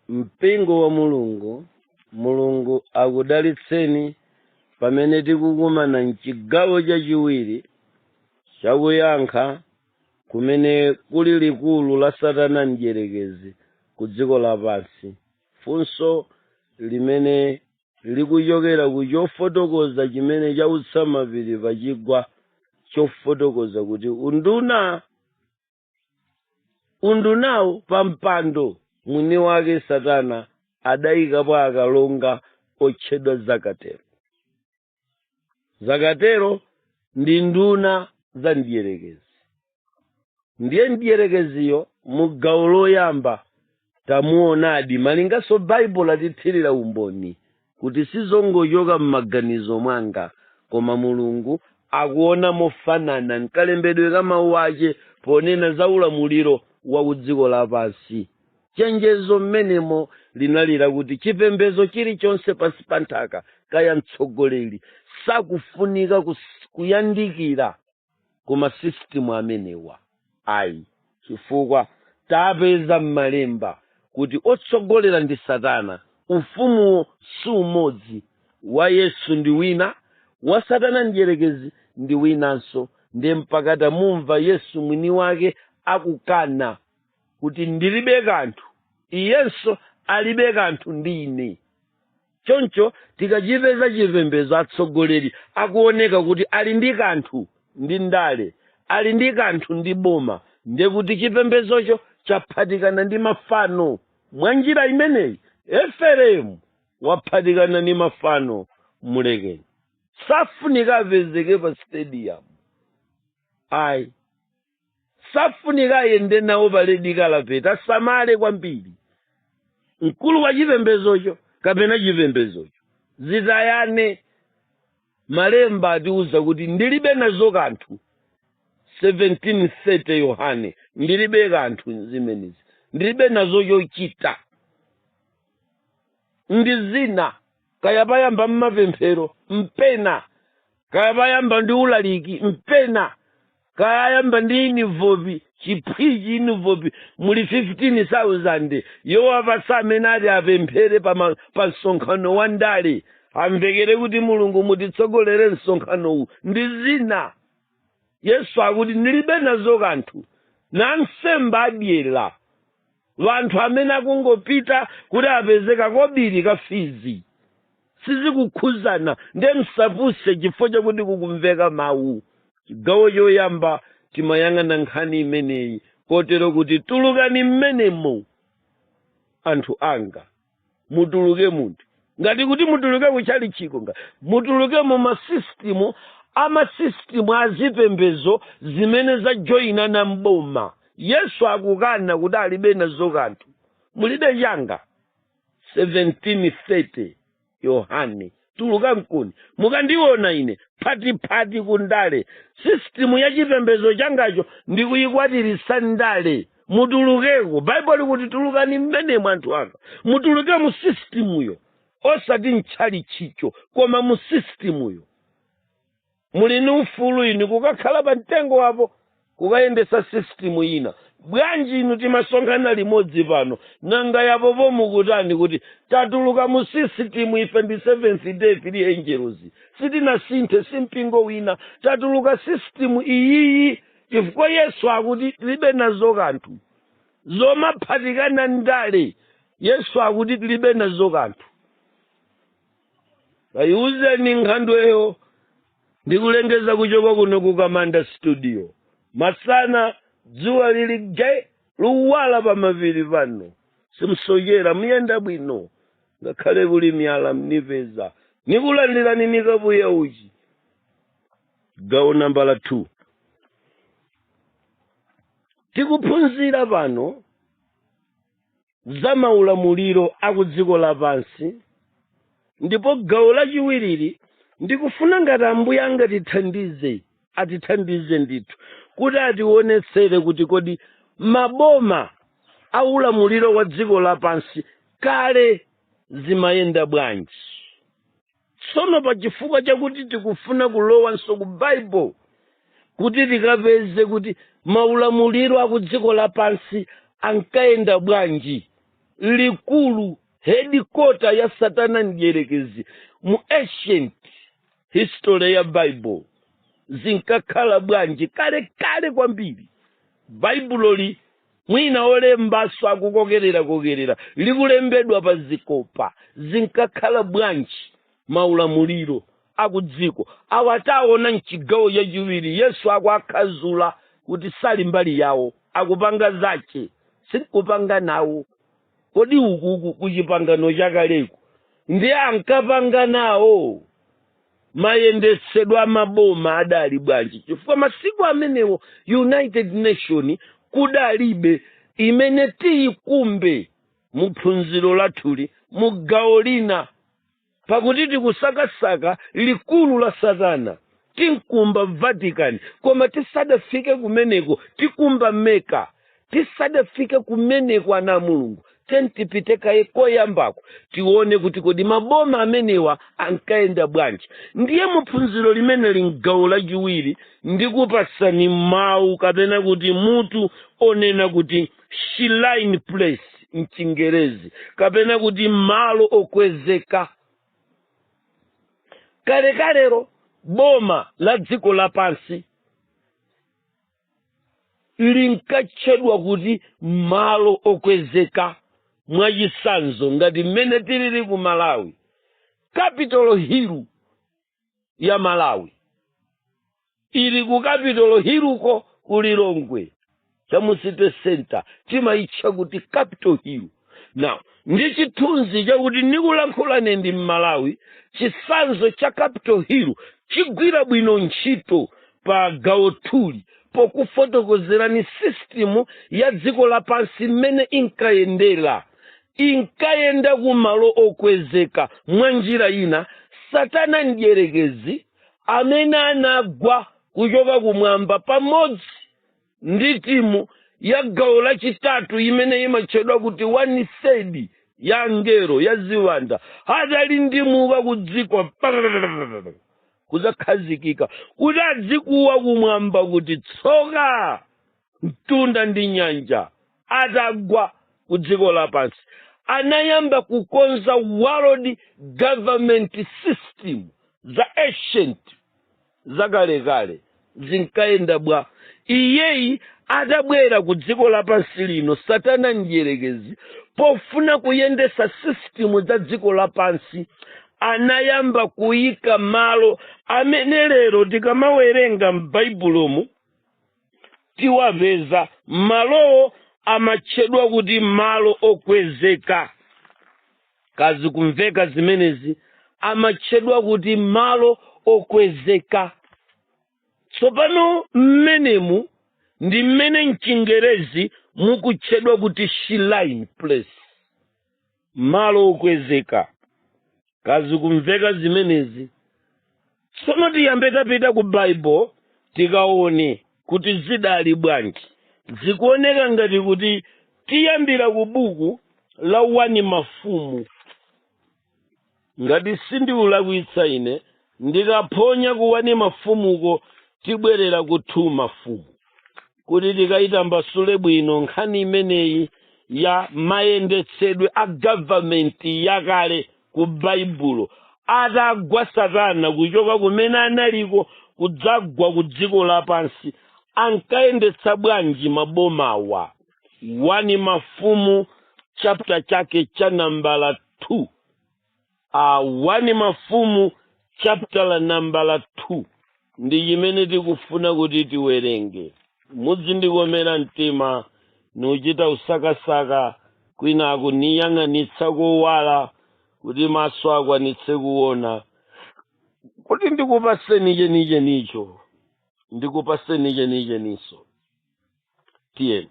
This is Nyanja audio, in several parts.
mpingo wa mulungu mulungu akudalitseni pamene tikukumana mchigawo chachiwiri chakuyankha kumene kuli likulu la satana mdyerekezi ku dziko lapansi funso limene likuchokera ku chofotokoza chimene chautsa mapiri pachigwa chofotokoza kuti unduna undunawo pa mpando mwini wake satana adayikapo akalonga otchedwa zakatero zakatero ndi nduna za mdierekezi ndiye mdierekeziyo mu gawo loyamba tamuonadi malinganso baibulo atithirira umboni kuti sizongochoka m'maganizo mwanga koma mulungu akuona mofanana mkalembedwe ka mawu ache ponena za ulamuliro wa kudziko lapansi chenjezo mmenemo linali lakuti chipembedzo chilichonse pansi pa nthaka kaya mtsogoleri sakufunika kus- kuyandikira ku masisitemu amenewa ayi chifukwa tapeza m'malemba kuti otsogolera ndi satana ufumuwo si umodzi wa yesu ndi wina wa satana mdyerekezi ndi winanso ndiye mpaka tamumva yesu mwini wake akukana kuti ndilibe kanthu iyenso alibe kanthu ndi ine choncho tikachipeza chipembedzo atsogoleri akuoneka kuti ali ndi kanthu ndi ndale ali ndi kanthu ndi boma ndiye kuti chipembedzocho chaphatikana ndi mafano mwa njira imeneyi efereimu waphatikana ndi mafano mulekeni safunika apezeke pa stadium ayi safunika ayende nawo pa red carpet asamale kwambiri mkulu wa chipembezocho kapena chipembezocho zitayane malemba atiuza kuti ndilibe nazo kanthu 1730 yohane ndilibe kanthu zimenezi ndilibe nazo chochita ndi zina kaya payamba mmapemphero mpena kaya payamba ndi ulaliki mpena kaya ayamba ndi inivopi chiphwichi inivopi muli 15000 yowapatsa amene ati apemphere pa ma- pa msonkhano wa ndale amvekere kuti mulungu mutitsogolere msonkhanowu ndi zina yesu akuti ndilibe nazo kanthu ansembe adyera anthu amene akungopita kuti apeze kakobiri ka fizi, sizikukhuzana nde musapuse chifukwa chakuti kukumveka mawu chigawo choyamba timayang'ana nkhani imeneyi kotero kuti tulukani mmenemo anthu anga mutuluke muti ngati kuti mutuluke kuchalichiko ngati mutuluke mu masisitimu amasisitimu azipembezo zimene zajoyina na mboma yesu akukana kuti alibe nazo kanthu mulibe changa 1730 yohane tuluka mkuni mukandiona ine phatiphati ku ndale sisitimu ya chipembedzo changacho ndikuyikwatiritsa ndale mutulukeko baibulo likuti tulukani mmenemo anthu anga mutuluke mu sisitimuyo osati mtchalichicho koma mu sisitimuyo muli ni ufulu inu kukakhala pa mtengo apo kukayendesa sistimu ina bwanji inu timasonkhana limodzi pano nanga yapo pomukutani kuti tatuluka mu sisitimu ife ndi seventh day three angels sitinasinthe si mpingo wina tatuluka sisitimu iyiyi chifukwa yesu akuti tilibe nazo kanthu zomaphatikana ndale yesu akuti tilibe nazo kanthu kayiuzeni nkhandweyo ndikulengeza kuchoka kuno ku kamanda studio masana dzuwa lili nge likuwala pa mapiri pano simsochera muyenda bwino ngakhale kuli miyala mnipeza nikulandirani ni kapu ya uchi gawo nambala 2 tikuphunzira pano za maulamuliro a ku dziko lapansi ndipo gawo lachiwirili ndikufuna ngati ambuye angatithandize atithandize ndithu kuti atiwonetsere kuti kodi maboma a ulamuliro wa dziko lapansi kale zimayenda bwanji tsono pa chifukwa chakuti tikufuna kulowanso ku baibulo kuti tikapeze kuti maulamuliro aku dziko lapansi ankayenda bwanji likulu hedikota ya satana mdierekezi mu ancient history ya baibulo zinkakhala bwanji kale kale kwambiri baibuloli mwina olembanso akukokererakokerera likulembedwa pa zikopa zinkakhala bwanji maulamuliro akudziko awa taona mchigawo chachiwiri yesu akuakhazula kuti sali mbali yawo akupanga zache sinkupanga nawo kodi ukuku ku chipangano chakaleku ndiye ankapanga nawo mayendetsedwe a maboma adali bwanji chifukwa masiku amenewo united nation kudalibe imene tiyikumbe mu phunziro lathuli mu gawo lina pakuti tikusakasaka likulu la satana tinkumba vatican koma tisadafike kumeneko tikumba meka tisadafike kumeneko ana a mulungu ntipite kaye koyambako tione kuti kodi maboma amenewa ankayenda bwanji ndiye muphunziro limeneli mgawo lachiwiri ndikupasani mawu kapena kuti mutu onena kuti shrine place mchingerezi kapena kuti malo okwezeka kalekalero boma la dziko lapansi linkatchedwa kuti malo okwezeka mwachisanzo ngati mmene tilili ku malawi capital hill ya malawi ili ku capital hilluko ku lilongwe cha mu city center timaitcha kuti capital hill now ndi chithunzi chakuti ndikulankhulane ndi mmalawi chisanzo cha capital hill chigwira bwino ntchito pa gawo lathuli pokufotokozerani sistimu ya dziko lapansi mmene inkayendera inkayenda ku malo okwezeka mwa njira ina satana mdierekezi amene anagwa kuchoka kumwamba pamodzi ndi timu ya gawo lachitatu imene imatchedwa kuti one third ya angelo ya ziwanda adalindimuka ku dziko pararararara, kudzakhazikika kuti adzikuwa kumwamba kuti tsoka mtunda ndi nyanja atagwa ku dziko lapansi anayamba kukonza world government system za ancient zakalekale zinkayenda bwa iyeyi atabwera ku dziko lapansi lino satana mdyerekezi pofuna kuyendetsa sistimu za dziko lapansi anayamba kuyika malo amene lero tikamawerenga m'baibulomu tiwapeza malowo amatchedwa kuti malo okwezeka kaya zikumveka zimenezi amatchedwa kuti malo okwezeka tsopano mmenemu ndi mmene mchingerezi mukutchedwa kuti shrine place malo okwezeka kazikumveka zimenezi tsono tiyambe tapita ku baibulo tikaone kuti zidali bwanji zikuoneka ngati kuti tiyambira ku buku la wani mafumu ngati sindikulakwitsa ine ndikaphonya ku wani mafumuko tibwerera ku two mafumu kuti tikayitambasule bwino nkhani imeneyi ya mayendetsedwe a gavamenti yakale ku baibulo atagwa satana kuchoka kumene analiko kudzagwa ku dziko lapansi ankayendetsa bwanji mabomawa wani mafumu chapter chake cha nambala 2 a wani mafumu chaputala nambala 2 ndi chimene tikufuna kuti tiwerenge muzindikomera mtima ndikuchita usakasaka kwinaku ndiyang'anitsa kowala kuti maso akwanitse kuona kuti ndikupaseni chenichenicho ndikupaseni chenichenicho tiyeni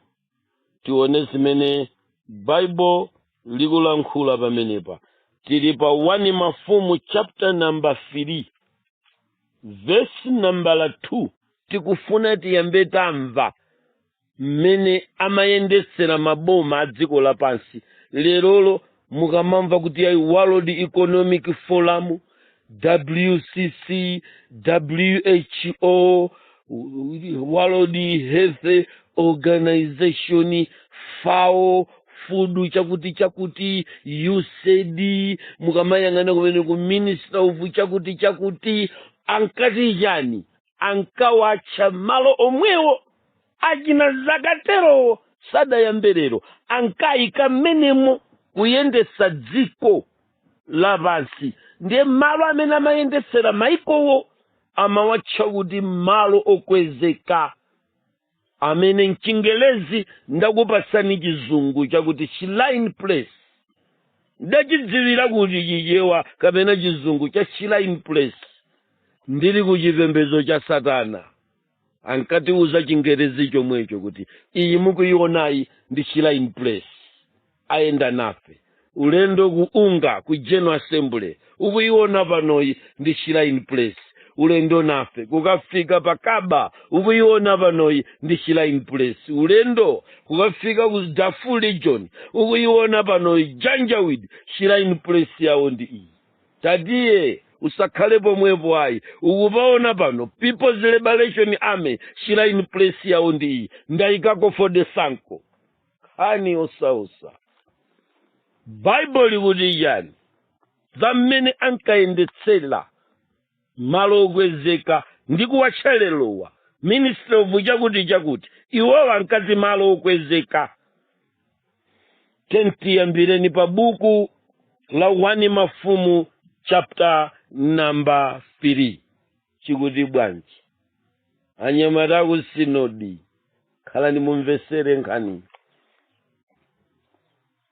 tione zimene baibulo likulankhula pamenepa tili pa 1 mafumu chapter number 3 vesi nambala 2 tikufuna tiyambe tamva mmene amayendetsera maboma a dziko lapansi lerolo mukamamva kuti ayi world economic forum wcc who world health organization fao fudu chakuti chakuti usaid mukamayang'ana kumene ku minister of chakuti chakuti ankati chani ankawatcha malo omwewo achina zakatelowo sadayambe lero ankayika mmenemo kuyendetsa dziko lapansi ndiye malo amene amayendetsera maikowo amawatcha kuti malo okwezeka amene mchingelezi ndakupasani chizungu chakuti shrine place ndachidziwira kuti chichewa kapena chizungu cha shrine place ndili ku chipembedzo cha satana ankatiuza chingerezi chomwecho kuti iyi mukuionayi ndi shrine place ayenda nafe ulendo ku unga ku general assembly ukuiona panoyi ndi shrine place ulendo nafe kukafika pa kaba ukuiona panoyi ndi shrine place ulendo kukafika ku darfur region ukuiona panoyi janjaweed shrine place yawo ndi iyi Tatiyeni, usakhale pomwepo ayi. Ukupaona pano People's Liberation Army Shrine Place yawo ndi iyi. Ndaikako for the Sanko. Khani osausa. Bible likuti chani? Zammene ankayendetsera malo okwezeka ndi kuwatchelerowa ministry of chakuti chakuti iwowa ankati malo okwezeka tiyambireni pa buku la 1 mafumu chapter number 3 chikuti bwanji anyamata aku sinodi khalani mumvesere nkhani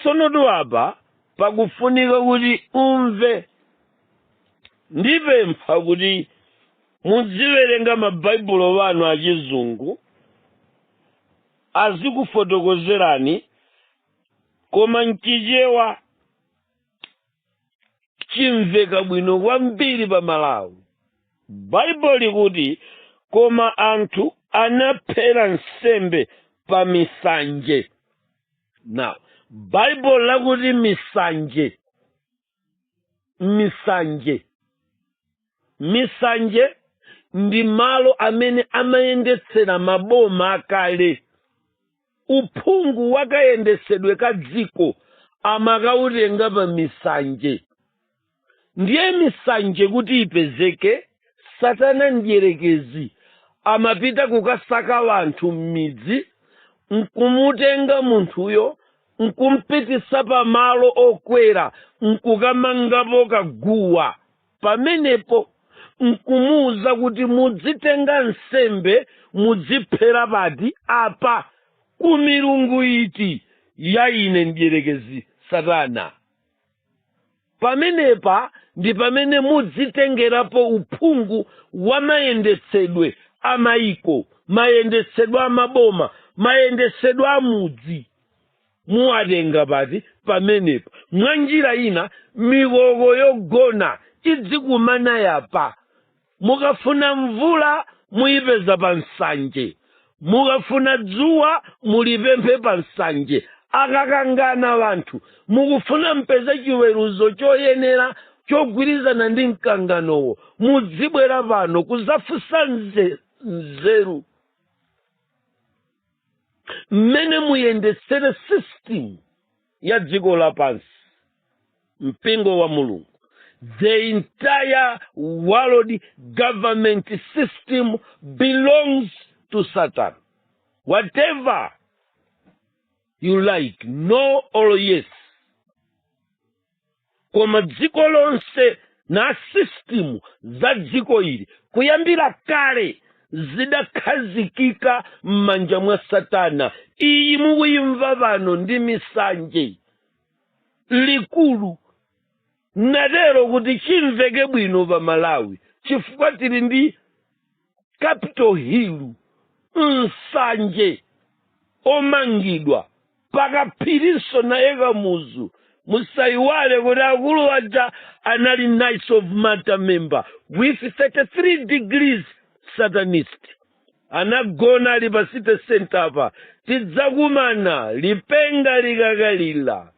tsonotu apa pakufunika kuti umve ndipempha kuti mudziwerenga mabaibulo anu achizungu azikufotokozerani koma mchichewa chimveka bwino kwambiri pa malawi baibulo likuti koma anthu anaphera nsembe pa misanje now baibulo likuti misanje misanje misanje ndi malo amene amayendetsera maboma akale uphungu wakayendetsedwe ka dziko amakautenga pa misanje ndiye misanje kuti ipezeke satana mdyerekezi amapita kukasaka wanthu m'midzi nkumutenga munthuyo nkumpitisa pamalo okwera nkukamangapo kaguwa pamenepo nkumuwuza kuti mudzitenga nsembe mudziphera pati apa ku milungu iti ya ine mdyerekezi satana pamenepa ndi pamene mudzitengerapo uphungu wa mayendetsedwe a maiko mayendetsedwe a maboma mayendetsedwe a mudzi Muwatenga pati? Pamenepa. Mwanjira ina mikoko yogona idzikumana yapa. Mukafuna mvula muyipeza pa msanje. Mukafuna dzuwa mulipemphe pa msanje. Akakangana wanthu mukufuna mpeze chiweruzo choyenera chogwirizana ndi mkanganowo mudzibwera pano kuzafunsa nzeru. mmene muyendetsere system ya dziko lapansi mpingo wa mulungu the entire world government system belongs to satan whether you like no or yes koma dziko lonse na system za dziko ili kuyambira kale zidakhazikika m'manja mwa satana iyi mukuyimva pano ndi misanje likulu natero kuti chimveke bwino pa malawi chifukwa tili ndi capital hill nsanje omangidwa pakaphirinso naye kamuzu musayiwale kuti akulu aja anali knights of malta member with 33 degrees satanist anagona ali pa city center apa tidzakumana lipenga likakalira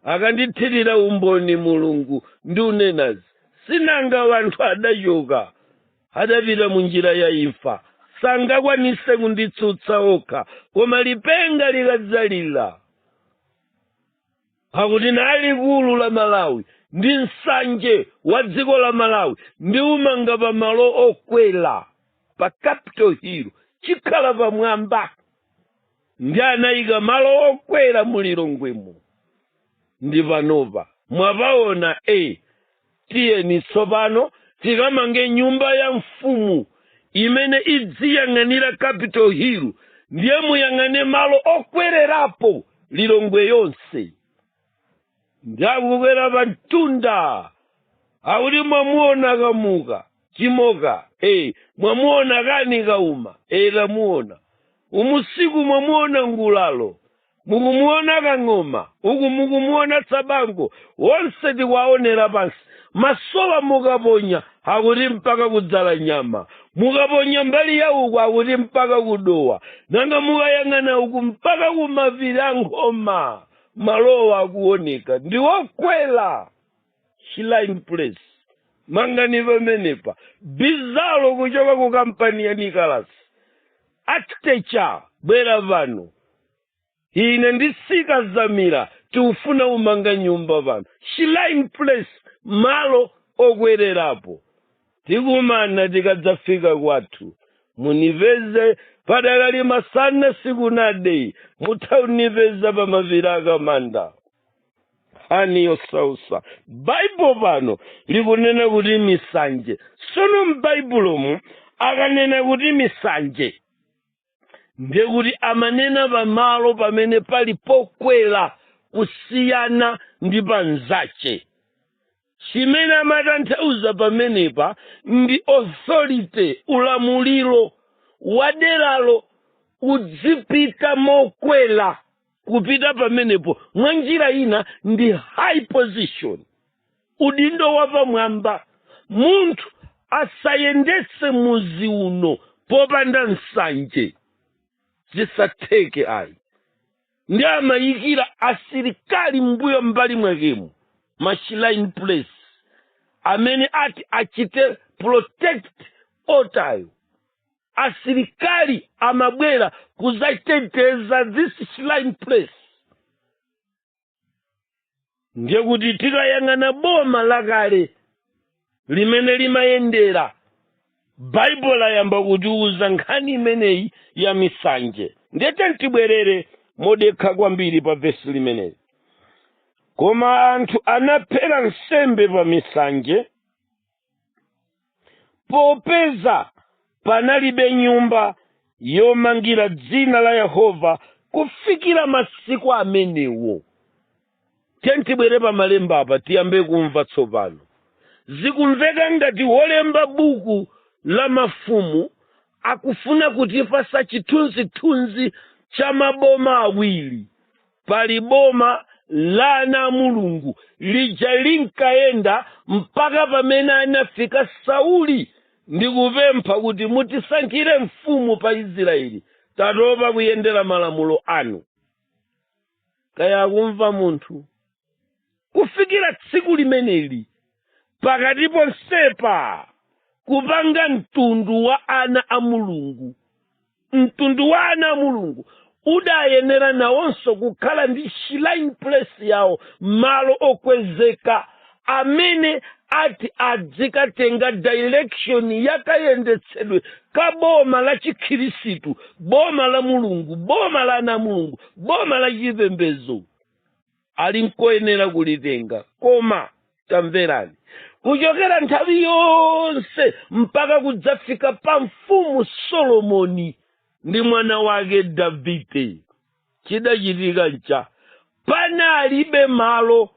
akandithirira umboni mulungu ndi unenazi sinanga wanthu adachoka adapita mu njira ya imfa sangakwanise kunditsutsa okha koma lipenga likadzalira pakuti na likulu la malawi ndi nsanje wa dziko la malawi ndi umanga pa malo okwela pa capital hill chikhala pamwamba ndiye anayika malo okwela mu lilongwemo ndi panopa mwapaona e tiyeni tsopano tikamange nyumba ya mfumu imene idziyang'anira capital hill ndiye muyang'ane malo okwererapo lilongwe yonse nda kukwera pa mtunda akuti mwamuona kamuka chimoka e mwamuona kani kauma e tamuona usiku mwamuona ngulalo mukumuona kang'oma uku mukumuona tsabango wonse tikwaonera pansi masowa mukaponya akuti mpaka ku dzalanyama mukaponya mbali ya uku akuti mpaka ku dowa nanga mukayang'ana uku mpaka kumapiri a nkhoma malowa akuoneka ndi okwela shrine place mangani pamenepa bizalo kuchoka ku kampani ya nicolas architecture bwera pano ine ndi sikazamira tikufuna umanga nyumba pano shrine place malo okwererapo tikumana tikadzafika kwathu munipeze padakali masana sikunade mutha unipeza pa mapiri akamanda nkhani yosausa baibulo pano likunena kuti misanje sono m'baibulomu akanena kuti misanje ndiye kuti amanena pamalo pamene pali pokwera kusiyana ndi panzace chimene amatanthauza pamenepa ndi authority ulamuliro wa deralo udzipita mokwera kupita pamenepo mwa njira ina ndi high position udindo wapamwamba munthu asayendetse muzi uno popanda nsanje zisatheke ayi ndi amayikira asilikali mbuyo mbali mwakemo ma shrine place amene ati achite protect otayo asilikali amabwera kuzateteza this shrine place ndiye kuti tikayang'ana boma lakale limene limayendera baibulo layamba kutiuza nkhani imeneyi ya misanje ndiye tiyeni tibwerere modekha kwambiri pa vesi limeneli koma anthu anaphera nsembe pa misanje popeza panalibe nyumba yomangira dzina la yehova kufikira masiku amenewo tiyeni tibwere pa malemba apa tiyambe kumva tsopano zikumveka ngati wolemba buku la mafumu akufuna kutipasa chithunzithunzi cha maboma awiri pali boma la ana a mulungu lija linkayenda mpaka pamene anafika sauli ndikupempha kuti mutisankhire mfumu pa israeli tatopa kuyendera malamulo anu kaya akumva munthu kufikira tsiku limeneli pakati ponsepa kupanga mtundu wa ana a mulungu mtundu wa ana a mulungu udayenera nawonso kukhala ndi shrine place yawo malo okwezeka amene ati adzikatenga direction yakayendetsedwe ka boma la chikhirisitu boma la mulungu boma la ana a mulungu boma la chipembedzo ali nkoyenera kulitenga koma tamverani kuchokera nthawi yonse mpaka kudzafika pa mfumu solomoni ndi mwana wake davide chidachitika ncha panalibe malo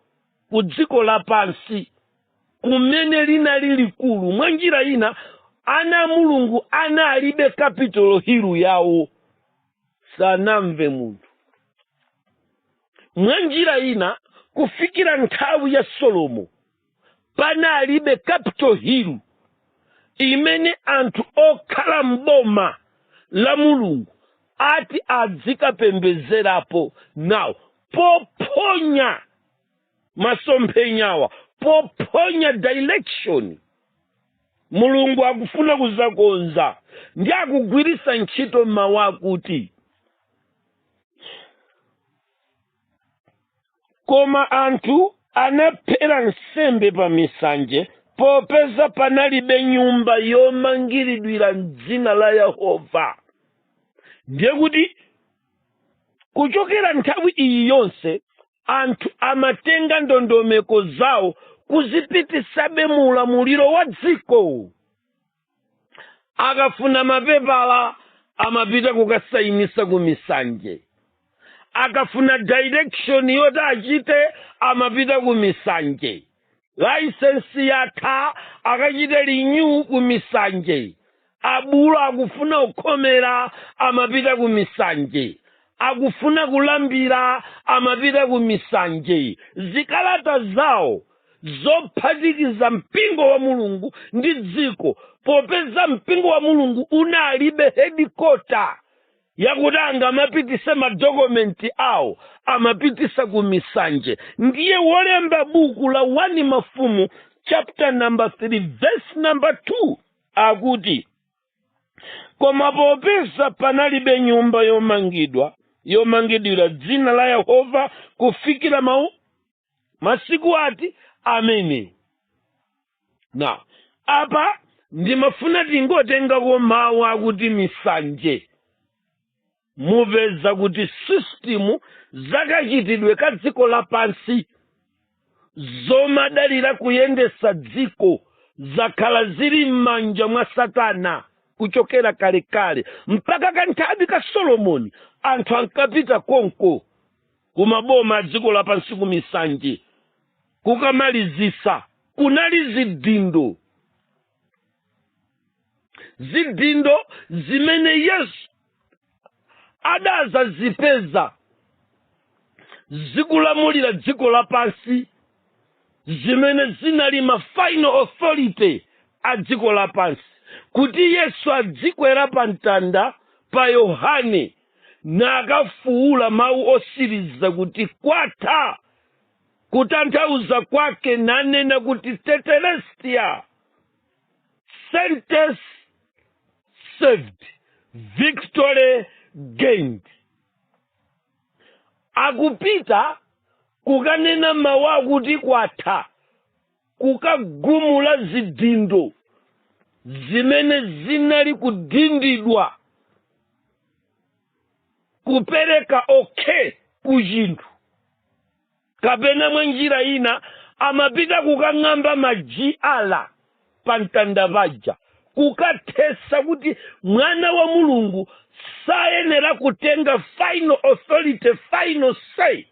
ku dziko lapansi kumene linali likulu mwa njira ina ana a mulungu analibe Capitol Hill yawo sanamve munthu mwa njira ina kufikira nthawi ya solomo panalibe capitol hill imene anthu okhala m'boma la mulungu ati adzikapembezerapo nawo pophonya masomphenyawa pophonya direction mulungu akufuna kuzakonza ndi akugwirisa ntchito mawu akuti koma anthu anaphera nsembe pa misanje popeza panalibe nyumba yomangiridwira m'dzina la yehova ndiye kuti kuchokera nthawi iyi yonse anthu amatenga ndondomeko zawo kuzipitisabe mu ulamuliro wa dziko akafuna mapepala amapita kukasayinisa ku misanje akafuna direction yoti achite amapita ku misanje laisensi yatha akachite renew ku misanje abulu akufuna kukhomera amapita ku misanje akufuna kulambira amapita ku misanje zikalata zawo zophatikiza mpingo wa mulungu ndi dziko popeza mpingo wa mulungu unalibe headquarter yakuti angamapitise madokumenti awo amapitisa ku misanje ndiye wolemba buku la 1 mafumu chapter number 3 verse number 2 akuti koma popeza panalibe nyumba yomangidwa yomangidwira dzina la yehova kufikira mawu masiku ati amene na apa ndimafuna tingotengako mawu akuti misanje mupeza kuti sisitimu zakachitidwe ka dziko lapansi zomadalira kuyendesa dziko zakhala zili m'manja mwa satana kuchokera kalekale mpaka kanthawi ka solomoni anthu ankapita konko ku maboma a dziko lapansi ku misanje kukamalizisa kunali zidindo zidindo zimene yesu adazazipeza zikulamulira dziko lapansi zimene zinali ma final authority a dziko lapansi kuti yesu adzikwera pa mtanda pa yohane nakafuula mawu osiriza kuti kwatha kutanthauza kwake nanena kuti tetelestia sentence served victory gained akupita kukanena mawu akuti kwatha kukagumula zidindo zimene zinali kudindidwa kupereka okay ku chinthu kapena mwa njira ina amapita kukang'amba majiyala pa mtanda paja kukathesa kuti mwana wa mulungu sayenera kutenga final authority final say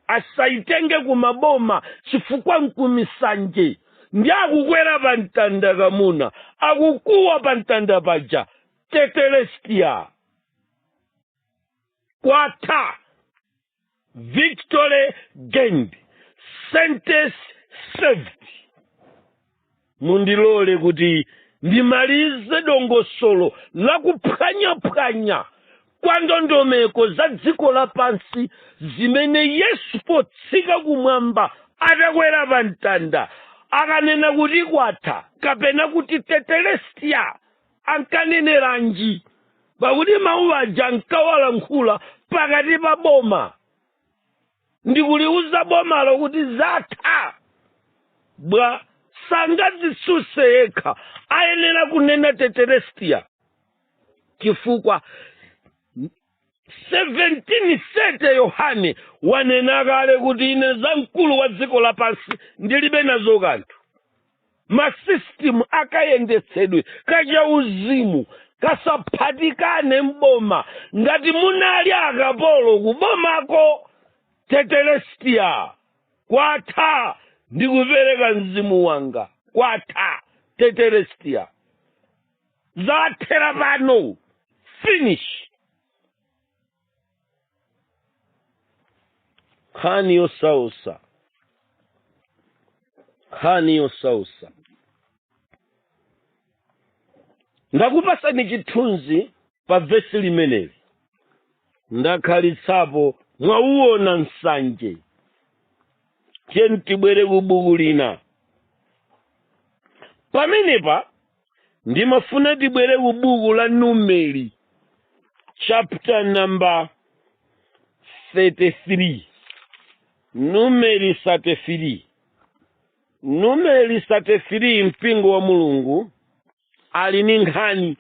asayitenge kumaboma chifukwa nkumisanje ndiye akukwera pa mtanda kamuna akukuwa pa mtanda paja tetelestia kwatha victory gained sentence served mundilole kuti ndimalize dongosolo la kuphwanyaphwanya kwa ndondomeko za dziko lapansi zimene yesu potsika kumwamba atakwera pa mtanda akanena kuti kwatha kapena kuti tetelestia ankaneneranji pakuti mawu aja ankawalankhula pakati pa boma ndikuliuza bomalo kuti zatha bwa sangadzisuse yekha ayenera kunena tetelestia chifukwa 1730 yohane wanena kale kuti ine za mkulu wa dziko lapansi ndilibe nazo kanthu masisitimu akayendetsedwe kachauzimu kasaphatikane mboma ngati munali akapolo kubomako tetelestia kwatha ndikupereka mzimu wanga kwatha tetelestia zathera pano finish nkhani yosausa nkhani yosausa ndakupasani chithunzi pa vesi limeneli ndakhalitsapo mwauona msanje tiyeni tibwere ku buku lina pamenepa ndimafuna tibwere ku buku la numeri chapter number 33 numeri 33 numeri 33 mpingo wa mulungu ali ni nkhani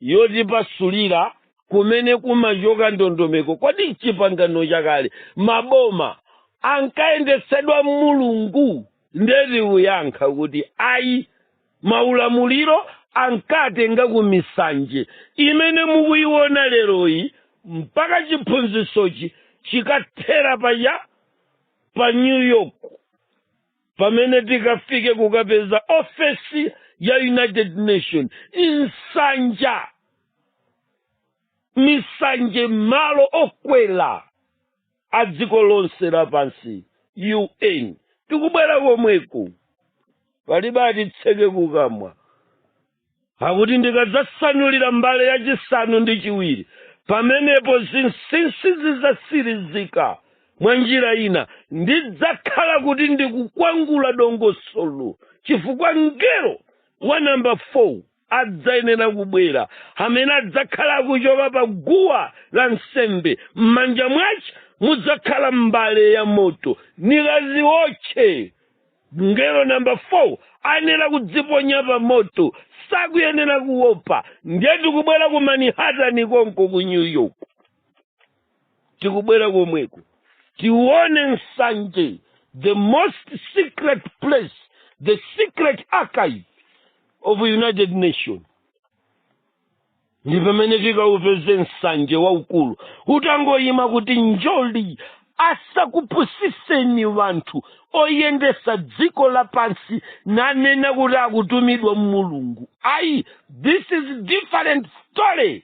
yotipasulira kumene kumachoka ndondomeko kodi chipangano chakale maboma ankayendetsedwa mulungu ndeti kuyankha kuti ayi maulamuliro ankatenga ku misanje imene mukuiona leroyi mpaka chiphunzitsochi chikathera paya pa new york pamene tikafike kukapeza ofesi ya united nations nsanja misanje malo okwela a dziko lonse lapansi un tikubwera komweku palibe atitseke kukamwa akuti ndikadzasanulira mbale yachisanu ndi chiwiri pamenepo zinsinsi zidzatsirizika mwa njira ina ndidzakhala kuti ndikukwangula dongosolo chifukwa mngelo wa namba 4 adzayenera kubwera amene adzakhala akuchoka pa guwa la nsembe m'manja mwace mudzakhala mbale ya moto nikaziwotche mngelo namba 4 ayenera kudziponya pa moto sakuyenera kuopa ndiye tikubwera ku manhattan konko ku new york tikubwera komweko tione msanje the most secret place the secret archive of united nations ndi pamene tikaupeze msanje waukulu utangoyima kuti njoli asakupusiseni wanthu oyendesa dziko lapansi nanena kuti akutumidwa mulungu ayi this is different story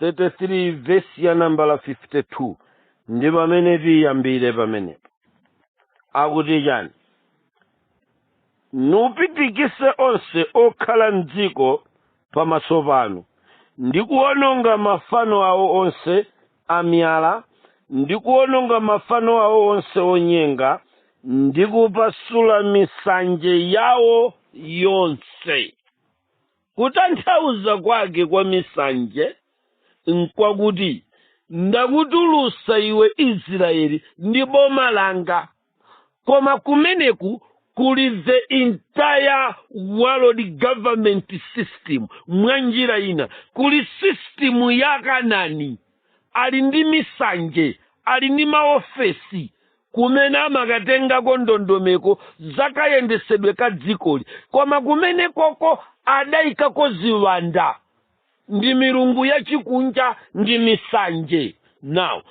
33 vesi ya nambala 52 ndi pamene tiyambire pamenepo akuti chani nupitikise onse okhala mdziko pamaso panu ndi kuwononga mafano awo onse amiyala ndi kuwononga mafano awo onse onyenga ndi kupasula misanje yawo yonse Kutanthauza kwake kwa misanje nkwakuti ndakutulusa iwe Israyeli ndi boma langa. Koma kumeneku kuli the entire world government system mwa njira ina kuli system ya Kanani ali ndi misanje ali ndi maofesi kumene amakatengako ndondomeko za kayendesedwe ka dzikoli koma kumenekoko adaikako ziwanda ndi milungu yachikunja ndi misanje now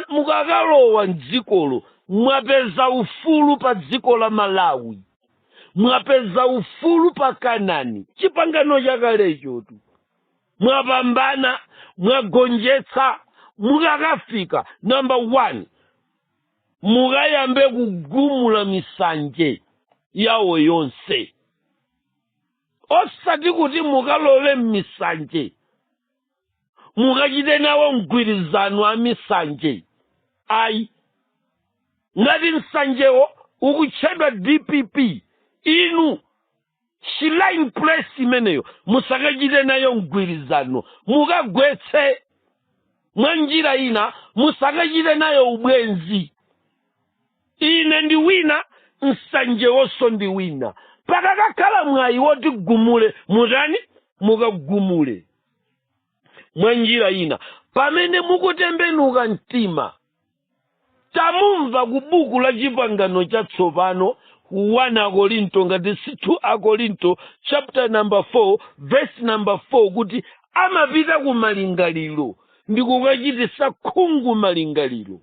mukakalowa mdzikolo mwapeza ufulu pa dziko la malawi mwapeza ufulu pa kanani chipangano chakalechotu mwapambana mwagonjetsa mukakafika number 1 mukayambe kugumula misanje yawo yonse osati kuti mukalowe m'misanje mukachite nawo mgwirizano a misanje ayi ngati msanjewo ukutchedwa dpp inu shrine place imeneyo musakachite nayo mgwirizano mukagwetse mwa njira ina musakachite nayo ubwenzi ine ndi wina msanjewonso ndi wina pakakakhala mwayi woti gumule mutani mukagumule mwa njira ina pamene mukutembenuka mtima tamva ku buku la chipangano chatsopano 1 akorinto ngati si 2 akorinto chapter number 4 verse number 4 kuti amapita ku malingaliro ndi kukachitisa khungu malingaliro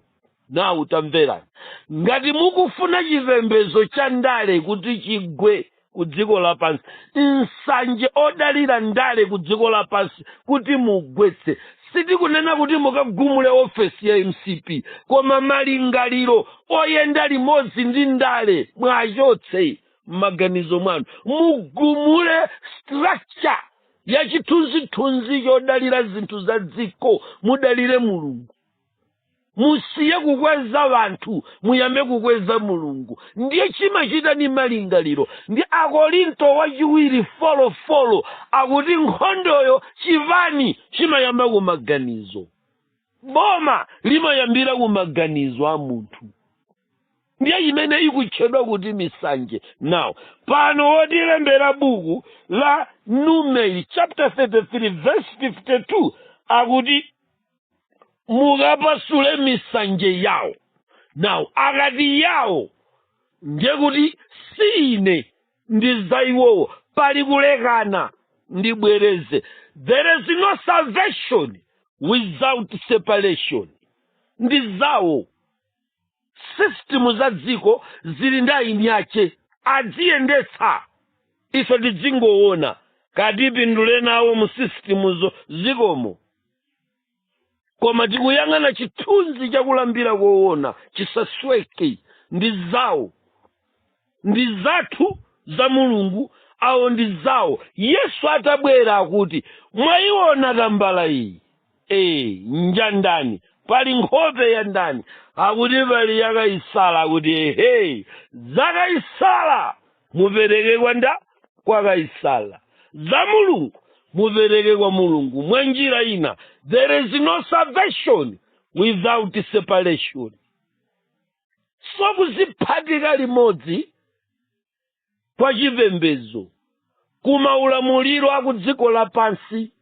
now tamverani ngati mukufuna chipembedzo cha ndale kuti chigwe ku dziko lapansi msanje odalira ndale ku dziko lapansi kuti mugwetse sitikunena kuti mukagumule ofesi ya mcp koma malingaliro oyenda limodzi ndi ndale mwachotse m'maganizo mwanu mugumule structure ya chithunzithunzi chodalira zinthu za dziko mudalire mulungu musiye kukweza wanthu muyambe kukweza mulungu ndiye chimachita ni malingaliro ndi akorinto wachiwiri four four akuti nkhondoyo chipani chimayamba kumaganizo boma limayambira kumaganizo a munthu ndiye imene ikutchedwa kuti misanje now pano wotilembera buku la numeri chapter 33 verse 52 akuti mukapasule misanje yawo now akati yawo ndiye kuti si ine ndi za iwowo pali kulekana ndibwereze there is no salvation without separation ndi zawo sisitimu za dziko zili ndi eni ake adziyendetsa ife tidzingoona atipindulire nawo mu sisitimuzo zikomo koma tikuyang'ana chithunzi chakulambira koona chisasweke ndi zawo ndi zathu za mulungu awo ndi zawo yesu atabwera akuti mwayiona tambala iyi ee njandani pali nkhope ya ndani akuti pali ya kaisala akuti ehe za kaisala mupereke kwa nda kwa kaisala za mulungu mupereke kwa mulungu mwa njira ina there is no salvation without separation so kuziphatika limodzi kwa chipembedzo ku maulamuliro a ku dziko lapansi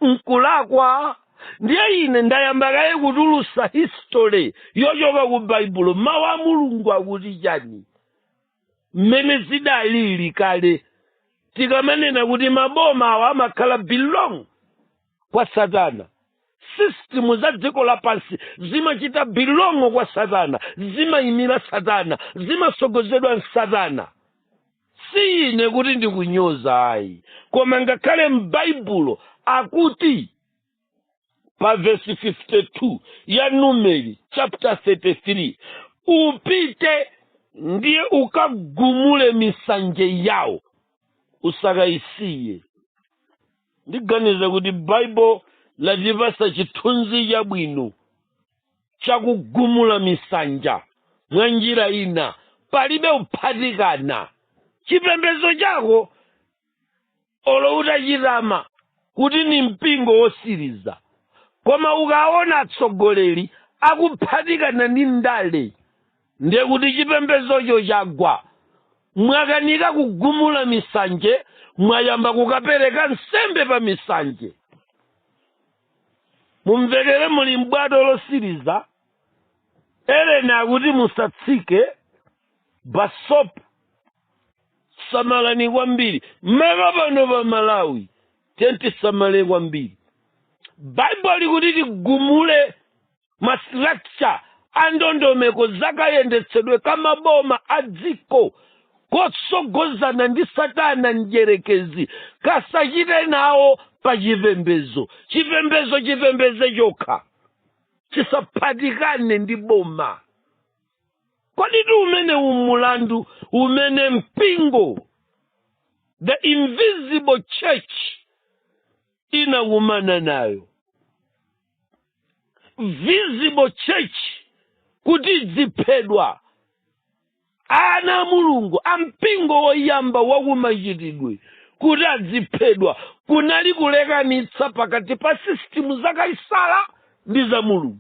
nkulakwa ndiye ine ndayamba kaye kutulusa history yochoka ku baibulo mawu a mulungu akuti chani mmene zidalili kale tikamanena kuti maboma awa amakhala belong kwa satana system za dziko lapansi zimachita belong kwa satana zimayimira satana zimasogozedwa nsatana si ine kuti ndikunyoza ayi koma ngakhale m'baibulo akuti pa vesi 52 ya numeri chapter 33 upite ndiye ukagumule misanje yawo usakayisiye ndiganiza kuti baibulo latipasa chithunzi chabwino cha kugumula misanje mwa njira ina palibe kuphatikana chipembedzo chako olo utachitama kuti ni mpingo wosiriza koma ukaona atsogoleri akuphatikana ndi ndale ndiye kuti chipembedzocho chagwa mwakanika kugumula misanje mwayamba kukapereka nsembe pa misanje mumvekere muli m'bwato losiriza eleni akuti musatsike basopu samalani kwambiri mmaka pano pa malawi tisamale kwambiri baibulo likuti tigumule mastructure a ndondomeko za kayendetsedwe ka maboma a dziko kotsogozedwa ndi satana mdyerekezi kasachite nawo pa chipembezo chipembezo chipembeze chokha chisaphatikane ndi boma koditu umeneu mulandu umene mpingo the invisible church inakumana nayo visible church kuti idziphedwa ana a mulungu a mpingo woyamba wakumachitidwe kuti adziphedwa kunali kulekanitsa pakati pa system za kaisala ndi za mulungu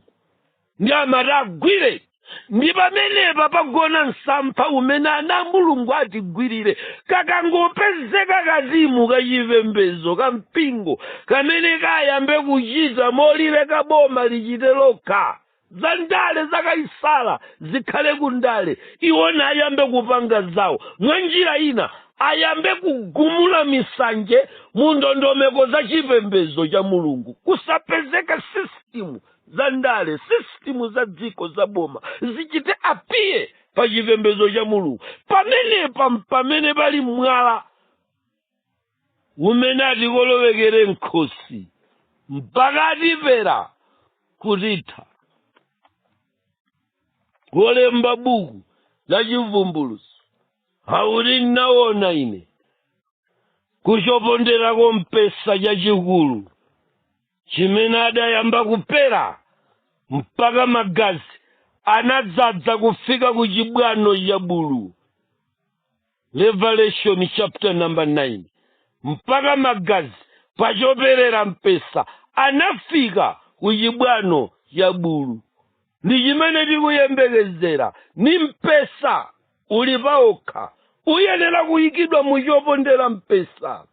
nde amati agwire ndi pamenepa pagona msampha umene ana a mulungu atigwirire kakangopezeka katimu kachipembedzo ka mpingo kamene kayambe kuchita molileka boma lichite lokha za ndale zakayisala zikhale ku ndale iwo nayambe kupanga zawo mwa njira ina ayambe kugumula misanje mu ndondomeko za chipembedzo cha mulungu kusapezeka sisitimu za ndale sisitimu za dziko za boma zichite apiye pa chipembedzo cha mulungu pamenepa mpamene pali mwala umene atikolowekere mkhosi mpaka atipera kutitha kulemba buku la chivumbuluso akuti ndinaona ine kuchopondera kompesa chachikulu chimene adayamba kupera mpaka magazi anadzadza kufika ku chibwano cha bulu revelation chapter number 9 mpaka magazi pachoperera mpesa anafika ku chibwano cha bulu ndi chimene tikuyembekezera ni mpesa uli paokha uyenera kuyikidwa mu chopondera mpesa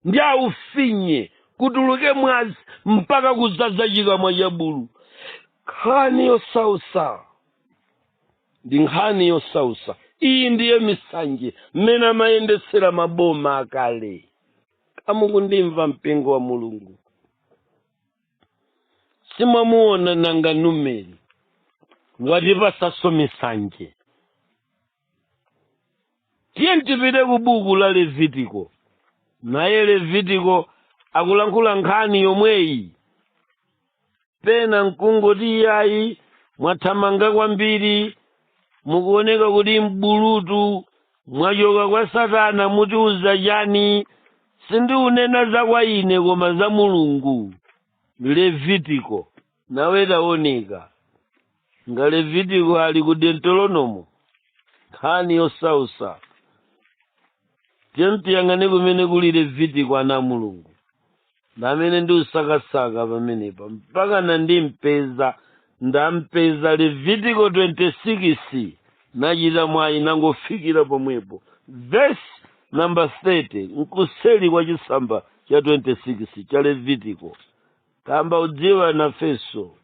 ndi aufinye kutuluke mwazi mpaka kuzaza chikamwa cha bulu nkhani yosausa ndi nkhani yosausa iyi ndiye misanje mmene amayendetsera maboma akale mukundimva mpingo wa mulungu simwamuona nanga numeri watipasaso misanje tiye tipite ku buku la levitiko naye levitiko akulankhula nkhani yomweyi pena nkungoti iyayi mwathamanga kwambiri mukuoneka kuti mbulutu mwachoka kwa satana mutiuza chani sindiunena za kwa ine koma za mulungu levitiko nawe taoneka nga levitiko ali ku deuteronomo nkhani yosausa tiyang'ane kumene kuli levitiko ana a mulungu ndamene ndikusakasaka pamenepa mpaka nandimpeza ndampeza levitiko 26 nachita mwayi nangofikira pomwepo vesi namba 30 nkuseri kwa chisamba cha 26 cha levitiko kamba udziwa nafeso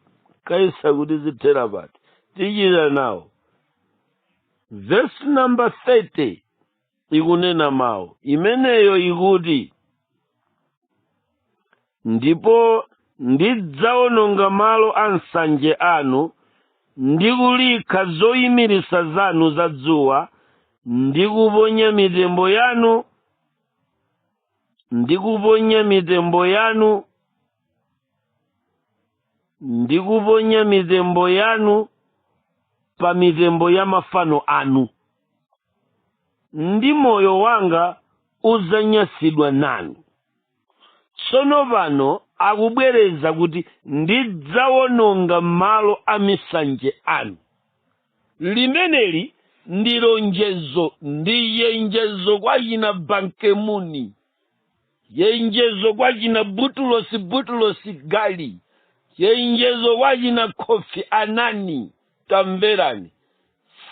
kaisa kuti zithera pati tichita nawo vesi namba 30 ikunena mawu imeneyo ikuti ndipo ndidzawononga malo a msanje anu ndi kulikha zoyimiritsa zanu za dzuwa ndi kuponya mitembo yanu ndi kuponya mitembo yanu ndi kuponya mitembo yanu pa mitembo ya mafano anu ndi moyo wanga udzanyansidwa nanu tsono pano akubwereza kuti ndidzawononga malo a misanje anu Limeneli ndi lonjezo, ndi chenjezo kwa achina Ban Ki-moon, chenjezo kwa achina Boutros Boutros Ghali, chenjezo kwa achina Kofi Annan. Tamverani,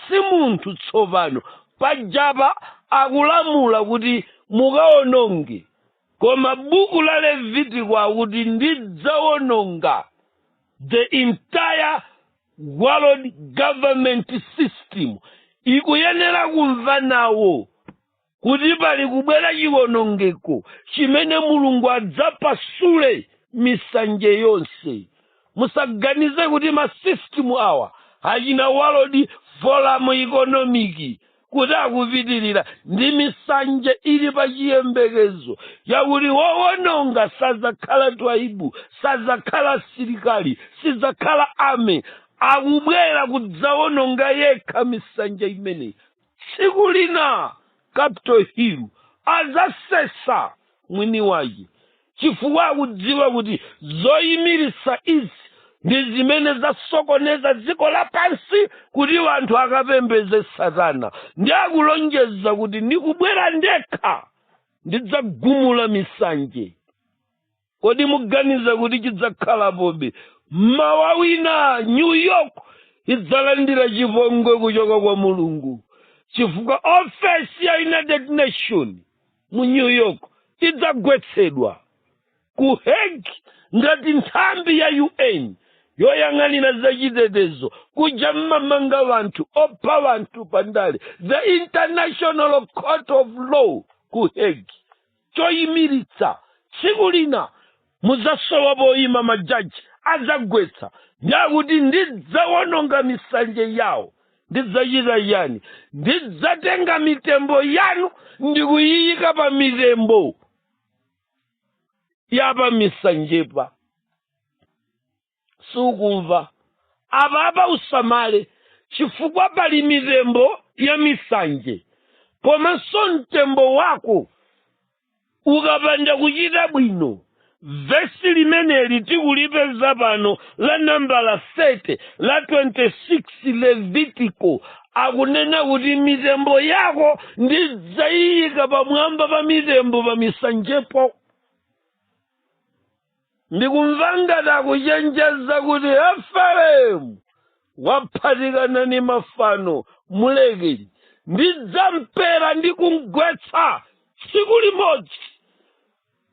si munthu tsopano. Pajapa akulamula kuti mukawononge, koma buku la Levitiko akuti ndidzawononga the entire world government system ikuyenera kumva nawo kuti pali kubwera chiwonongeko chimene mulungu adzapasule misanje yonse musaganize kuti masystem awa achina world forum economic kuti akupitirira ndi misanje ili pa chiyembekezo chakuti wowononga sadzakhala tribe sadzakhala asilikali sidzakhala army akubwera kudzawononga yekha misanje imeneyi tsiku lina capital hill adzasesa mwini wache chifukwa akudziwa kuti zoyimiritsa izi ndi zimene zasokoneza dziko lapansi kuti wanthu akapembeze satana ndi akulonjeza kuti ndikubwera ndekha ndidzagumula misanje kodi muganiza kuti chidzakhalapobe mmawa wina new york idzalandira chipongwe kuchoka kwa mulungu chifukwa ofesi ya united nation mu new york idzagwetsedwa ku hague ngati nthambi ya un yoyang'anira zachitetezo kuja mmamanga wanthu opha wanthu pandale the international court of law ku hague choyimiritsa tsiku lina mudzasowa poyima majaji adzagwetsa ndi akuti ndidzawononga misanje yawo ndidzachita chani ndidzatenga mitembo yanu ndikuyiyika pa mitembo yapa misanjepa sukumva apapa usamale chifukwa pali mitembo ya misanje komanso mtembo wako ukapanda kuchita bwino vesi limeneli tikulipeza pano la nambala 30 la 26 levitiko akunena kuti mitembo yako ndidzayiyika pamwamba pa mitembo pa misanjepo ndikumva ngati akuchenjeza kuti efereimu waphatikana ni mafano mulekeni ndidzampera ndi kumgwetsa tsiku limodzi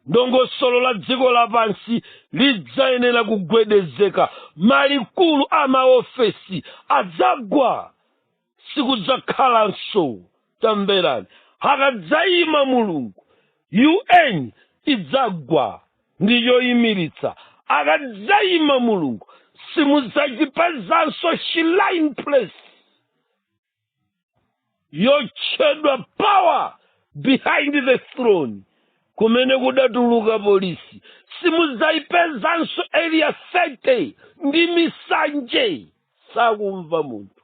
ndongosolo la dziko lapansi lidzayenera kugwedezeka malikulu a maofesi adzagwa sikudzakhalanso tamverani akadzayima mulungu un idzagwa ndi choyimiritsa akadzayima mulungu simudzachipezanso shrine place yotchedwa power behind the throne kumene kudatuluka polisi simudzayipezanso area 30 ndi misanje sakumva munthu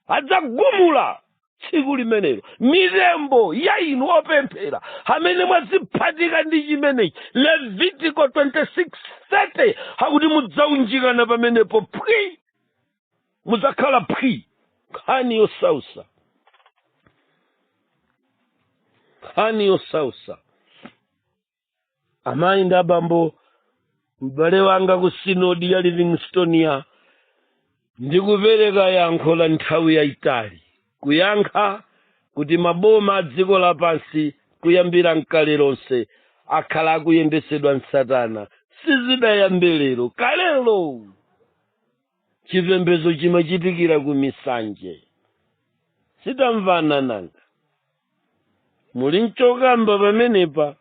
adzagumula tsiku limenelo mitembo ya inu opemphera amene mwaziphatika ndi chimenechi levitiko 26:30 akuti mudzaunjikana pamenepo phwi mudzakhala phwi nkhani yosausa nkhani yosausa amayi ndi abambo m'bale wanga ku sinodi ya livingstonia ndikupereka yankho la nthawi yayitali kuyankha kuti maboma a dziko lapansi kuyambira mkale lonse akhala akuyendetsedwa nsatana sizidayambe lero kalelo chipembedzo chimachitikira ku misanje sitamvana nanga muli nchokamba pamenepa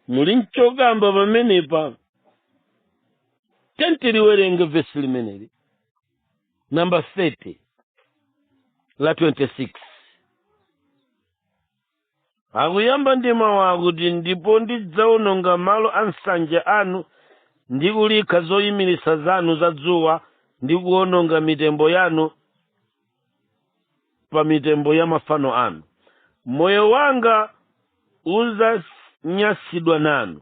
muli nchokamba pamenepa tentiliwerenge vesi limeneli namba 30 la 26 akuyamba ndi mawu akuti ndipo ndidzaononga malo a msanje anu ndi kulikha zoyimiritsa zanu za dzuwa ndi kuononga mitembo yanu pa mitembo ya mafano anu moyo wanga uzanyansidwa nanu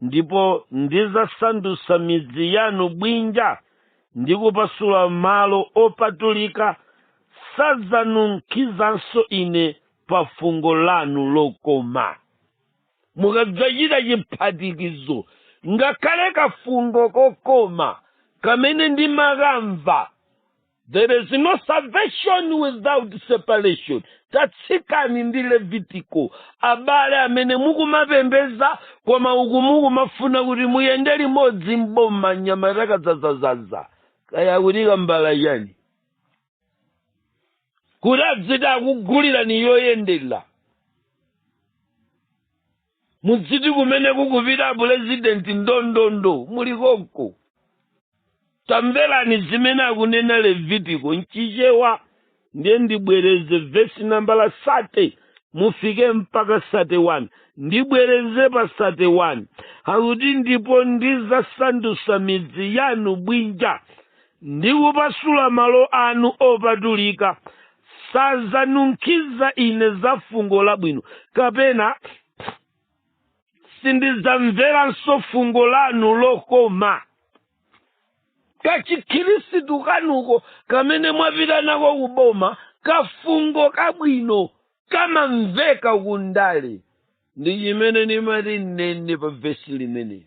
ndipo ndizasandutsa midzi yanu bwinja ndi kupasula malo opatulika sadzanunkhizanso ine pa fungo lanu lokoma mukadzachita chiphatikizo ngakhale kafungo kokoma kamene ndimakamva there is no salvation without separation tatsikani ndi levitiko abale amene mukumapembeza koma uku mukumafuna kuti muyende limodzi mboma nyama itakadzazazaza kaya kuti kambala yani kuti adziti akugulirani yoyendera mudziti kumene kukupita apulezidenti ndondondo muli konko tamverani zimene akunena levitiko mchichewa ndiye ndibwereze vesi nambala 30 mufike mpaka 31 ndibwereze pa 31 akuti ndipo ndizasandutsa midzi yanu bwinja ndikupasula malo anu opatulika sadzanunkhiza ine za fungo labwino kapena sindidzamveranso fungo lanu lokoma kachikhirisitu kanuko kamene mwapita nako kuboma kafungo kabwino kamamveka kundale ndi chimene ndimati nnene pa vesi limeneli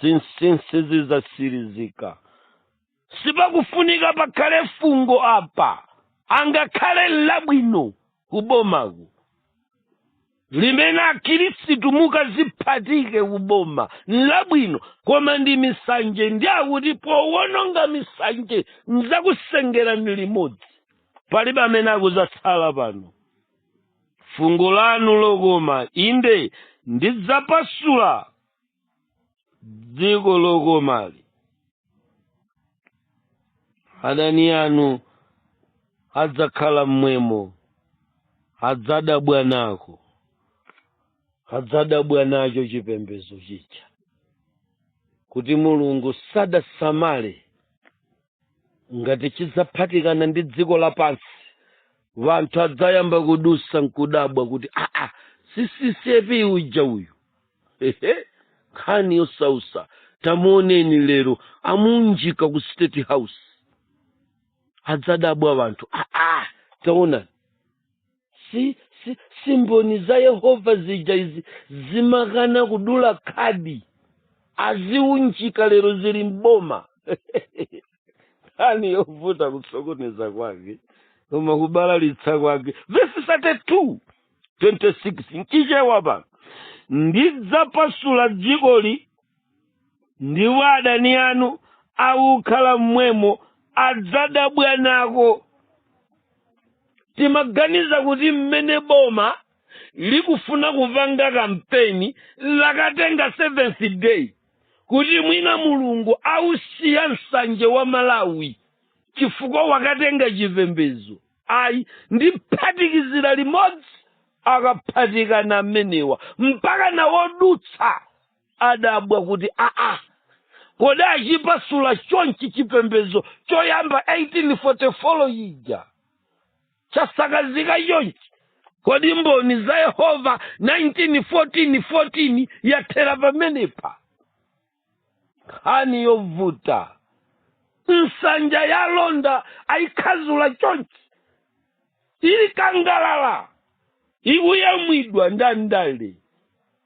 zinsinsi zizasirizika sipakufunika pakhale fungo apa angakhale nlabwino kubomaku limene akhirisitu mukaziphatike kuboma nlabwino koma ndi misanje ndi akuti powononga misanje nzakusengerani limodzi palibe amene akuzatsala pano fungo lanu lokoma inde ndidzapasula dziko lokomali adani anu adzakhala mmwemo adzadabwa nako adzadabwa nacho chipembedzo chija kuti mulungu sadasamale ngati chidzaphatikana ndi dziko lapansi wanthu adzayamba kudutsa nkudabwa kuti aa si ccap uja uyu ehe nkhani yosausa tamuoneni lero amuunjika ku state house adzadabwa wanthu aa taonani si mboni za yehova zija izi zimakana kudula khadi aziunjika lero zili mboma nkhani yovuta kusokoneza kwake koma kubalalitsa kwake vesi 32 26 mchichewa pa ndidzapasula dzikoli ndipo adani anu akukhala mmwemo adzadabwa nako timaganiza kuti mmene boma likufuna kupanga kampeni lakatenga seventh day kuti mwina mulungu ausiya msanje wa malawi chifukwa wakatenga chipembedzo ayi ndiphatikizira limodzi akaphatikana amenewa mpaka nawodutsa adabwa kuti aa kodi achipasula chonchi chipembedzo choyamba 1844 yija chasakazika chonchi kodi mboni za yehova 1914 yathera pamenepa nkhani yovuta nsanja ya londa ayikhazula chonchi ili kangalala ikuyamwidwa ndi ndale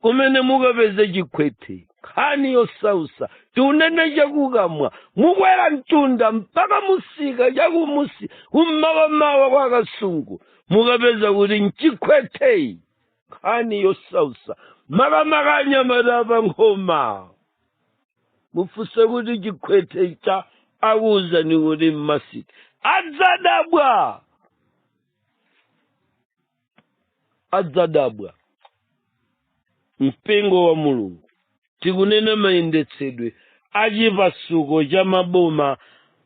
kumene mukapeze chikhwethe nkhani yosausa tiunene chakukamwa mukwera mtunda mpaka musika chakumusi kummawa-mawa kwa kasungu mukapeza kuti mchikhwetheyi nkhani yosausa makamaka anyamata pa nkhoma mufunse kuti chikhwethe cha akuwuzani kuti mmasika adzadabwa adzadabwa mpingo wa mulungu tikunena mayendetsedwe a chipasuko cha maboma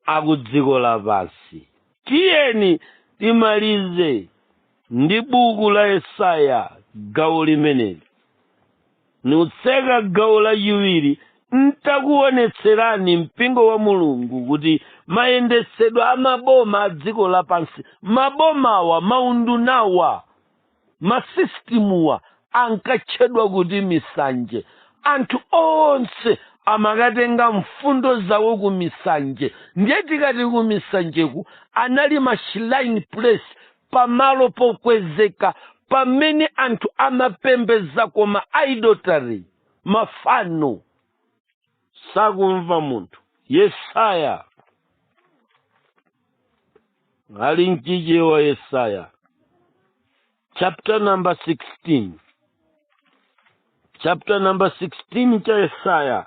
a ku dziko lapansi tiyeni timalize ndi buku la yesaya gawo limeneli nutseke gawo lachiwiri ntakuonetserani mpingo wa mulungu kuti mayendetsedwe a maboma a dziko lapansi mabomawa maundunawa masisitimuwa ankatchedwa kuti misanje anthu onse amakatenga mfundo zawo ku misanje ndiye tikati ku misanjeku anali mashrine place pamalo pokwezeka pamene anthu amapembedzako ma idolatry mafano sakumva munthu yesaya ali mchichewa yesaya chapter number 16 chapter number 16 cha yesaya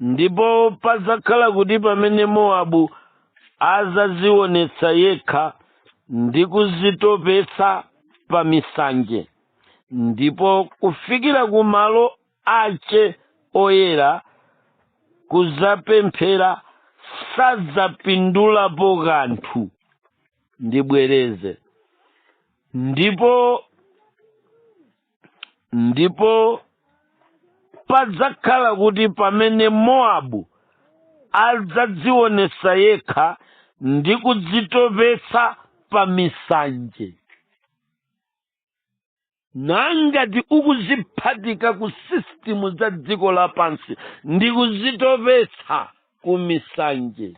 ndipo padzakhala kuti pamene mowabu adzazionetsa yekha ndi kuzitopetsa pa misanje ndipo kufikira ku malo ace oyera kuzapemphera sadzapindulapo kanthu ndibwereze ndipo ndipo padzakhala kuti pamene mowabu adzadzionetsa yekha ndi kudzitopetsa pa misanje nangati ukuziphatika ku sistimu za dziko lapansi ndi kuzitopetsa ku misanje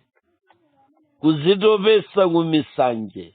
kuzitopetsa ku misanje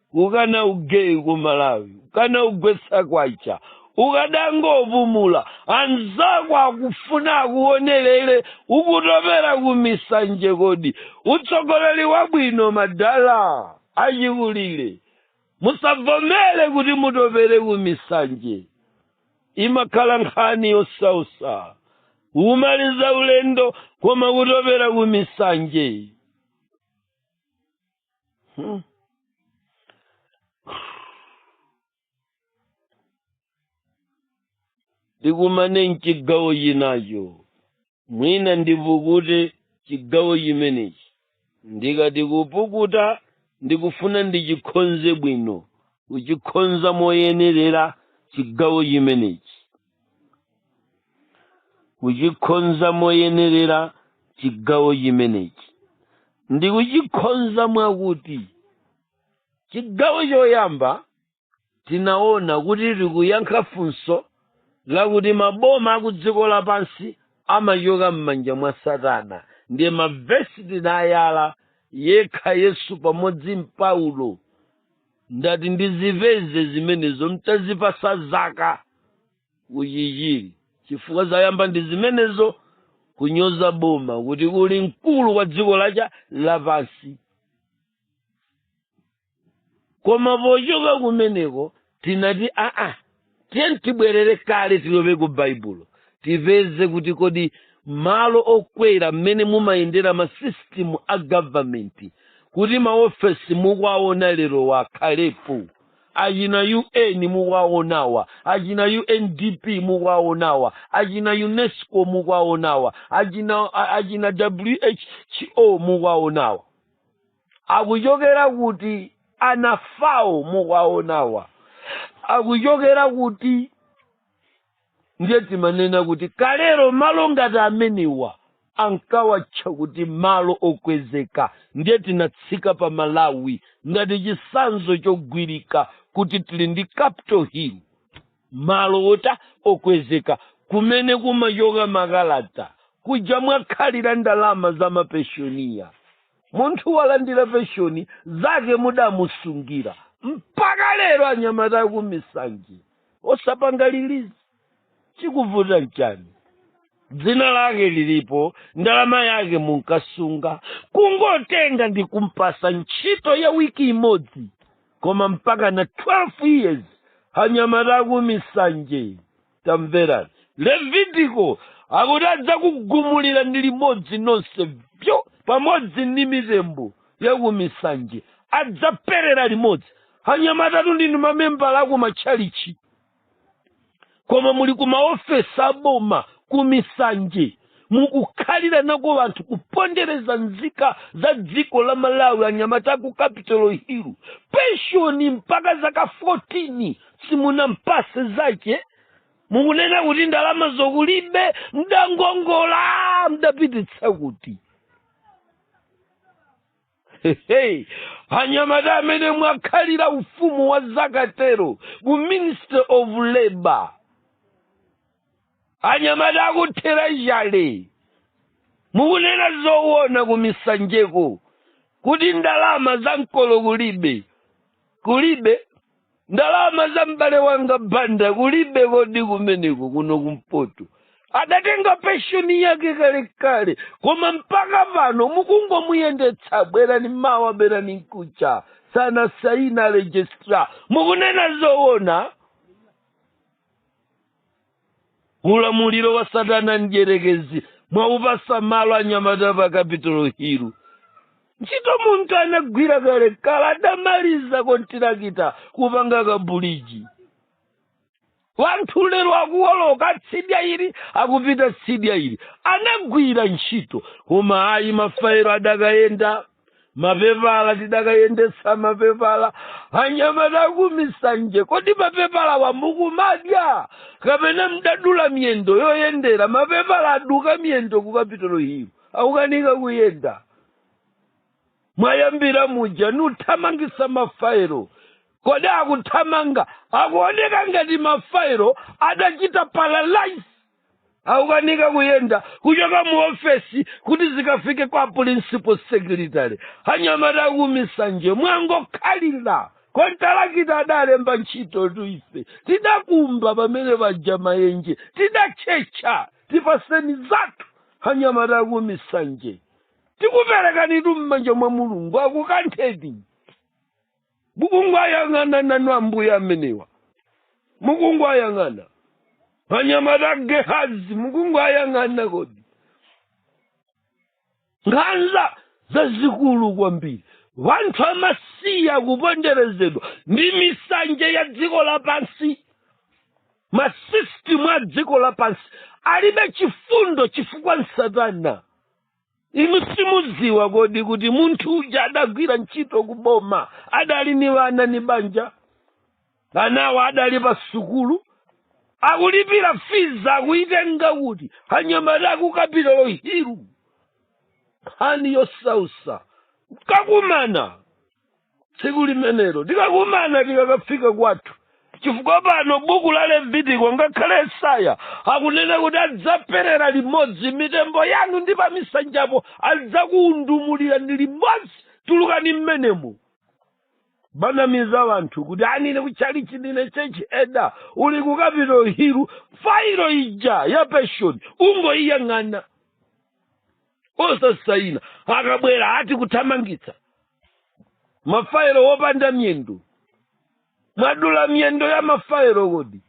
kukana ugeyi ku malawi kukana kugwetsa kwacha ukadangopumula anzako akufuna akuonerere ukutopera ku misanje kodi utsogoleri wabwino madala achikulire musavomere kuti mutopere ku misanje imakhala nkhani yosausa kumaliza ulendo koma kutopera ku misanje Hmm. tikumane mchigawo chinacho mwina ndipukute chigawo chimenechi ndikati kupukuta ndikufuna ndichikhonze bwino kuchikhonza moyenerera chigawo chimenechi kuchikhonza moyenerera chigawo chimenechi ndi kuchikhonza mwakuti chigawo choyamba tinaona kuti tikuyankha funso lakuti maboma akudziko lapansi amachoka m'manja mwa satana ndiye mavesi tinawayala yekha yesu pamodzi ndi paulo ndati ndizipeze zimenezo mtazipasa zaka kuchichiri chifukwa zayamba ndi zimenezo kunyoza boma kuti kuli mkulu wa dziko lacha lapansi koma pochoka kumeneko tinati aa tiye tibwerere kale tilowe ku baibulo tipeze kuti kodi malo okwera mmene mumayendera masisitimu a gavamenti kuti maofesi mukuwaona lerowa akhalepo achina un mukuwaonawa achina undp mukuwaonawa achina unesco mukuwaonawa achina, a- achina who mukuwaonawa akuchokera kuti anafawa mukuwaonawa akuchokera kuti ndiye timanena kuti kalero malo ngati amenewa ankawatcha kuti malo okwezeka ndiye titatsika pa malawi ngati chisanzo chogwirika kuti tili ndi capital hill malo otha okwezeka kumene kumachoka makalata kuja mwakhalira ndalama za mapenshoniya munthu walandira penshoni zake mudamusungira mpaka lero anyamata akumisanje osapanga lilizi chikuvuta nchani dzina lake lilipo ndalama yake munkasunga kungotenga ndi kumpatsa ntchito ya wiki imodzi koma mpaka na 12 years anyamata akumisanje tamverani levitiko akuti adzakugumulira ni limodzi nonse vyo pamodzi ndi mitembo yakumisanje adzaphera limodzi anyamatatu ndinu mamembala aku matchalichi koma muli ku maofesi aboma ku misanje mukukhalira nako wanthu kupondereza nzika za dziko la malawi anyamata aku capital hill penshoni mpaka zaka 14 simunampatse zake mukunena kuti ndalama zo kulibe mdakongola mdapititsa kuti anyamata amene mwakhalira ufumu wa zakatero ku ministry of labor anyamata akuthera chale mukunena zowona kumisanjeko kuti ndalama za mkolo kulibe kulibe ndalama za m'bale wanga banda kulibe kodi kumeneko kuno kumpoto adatenga penshoni yake kalekale koma mpaka pano mukungomuyendetsa bwerani mawa bwerani mkucha sanasaine registra mukunena zoona ulamuliro wa satana mdyerekezi mwaupatsa malo anyamata pa kapitolo hilu ntchito munthu anagwira kalekale adamaliza kontirakita kupanga kabuliji wanthu lero akuwoloka tsidya ili akupita tsidya ili anagwira ntchito koma ayi mafailo adakayenda mapepala tidakayendetsa mapepala anyamata akumisanje kodi mapepalawa mukumadya kapena mdadula miyendo yoyendera mapepala aduka miyendo ku kapitolo hilu akukanika kuyenda mwayambira muja nikuthamangitsa mafailo kodi akuthamanga akuoneka ngati mafailo adachita paralyze akukanika kuyenda kuchoka mu ofesi kuti zikafike kwa principal secretary anyamata akumisanje mwangokhalira kontalakita adalemba ntchito tuife tidakumba pamene paja mayenje tidatchetcha timapenshoni zathu anyamata akumisanje tikuperekanitu m'manja mwa mulungu akukantheni mukungowayang'ana nanu ambuye amenewa mukungowayang'ana anyamata a gehazi mukungowayang'ana kodi nkhanza zazikulu kwambiri wanthu amasiya kuponderezedwa ndi misanje ya dziko lapansi masisitimu a dziko lapansi alibe chifundo chifukwa satana inu simudziwa kodi kuti munthu uja adagwira ntchito kuboma adali ni wana ni banja anawo adali pa sukulu akulipira fizi akuyitenga kuti anyamata aku capitol hill nkhani yosausa tikakumana tsiku limenelo tikakumana tikakafika kwathu chifukwa pano buku la levitiko ngakhale yesaya akunena kuti adzaperera limodzi mitembo yanu ndi pamisanjapo adzakuundumulira ndi limodzi tulukani mmenemo kumanamiza wanthu kuti aa ine kuchalichi ndine church elder uli ku capitol hill fairo ija ya penshoni ungoiyang'ana osasaina akabwera ati kuthamangitsa mafairo opanda miyendo mwadula miyendo ya mafairo kodi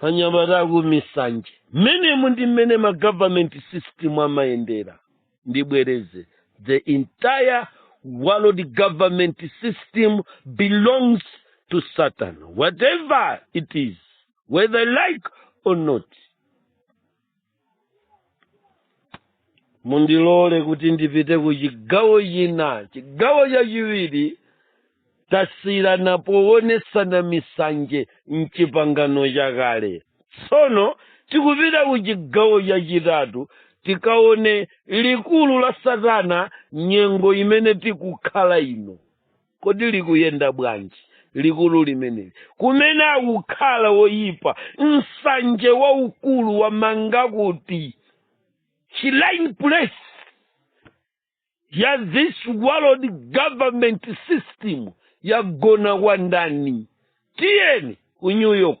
anyamata akumisanje mmenemu ndi mmene ma government system amayendera ndibwereze the entire world government system belongs to satan whatever it is whether like or not mundilole kuti ndipite ku chigawo china chigawo chachiwiri tasiyira powonetsana misanje mchipangano chakale tsono tikupita ku chigawo chachitatu tikaone likulu la satana nyengo imene tikukhala ino kodi likuyenda bwanji likulu limeneli kumene akukhala woyipa nsanja waukulu wamanga kuti rallying place ya this world government system yagona kwa ndani tiyeni ku new york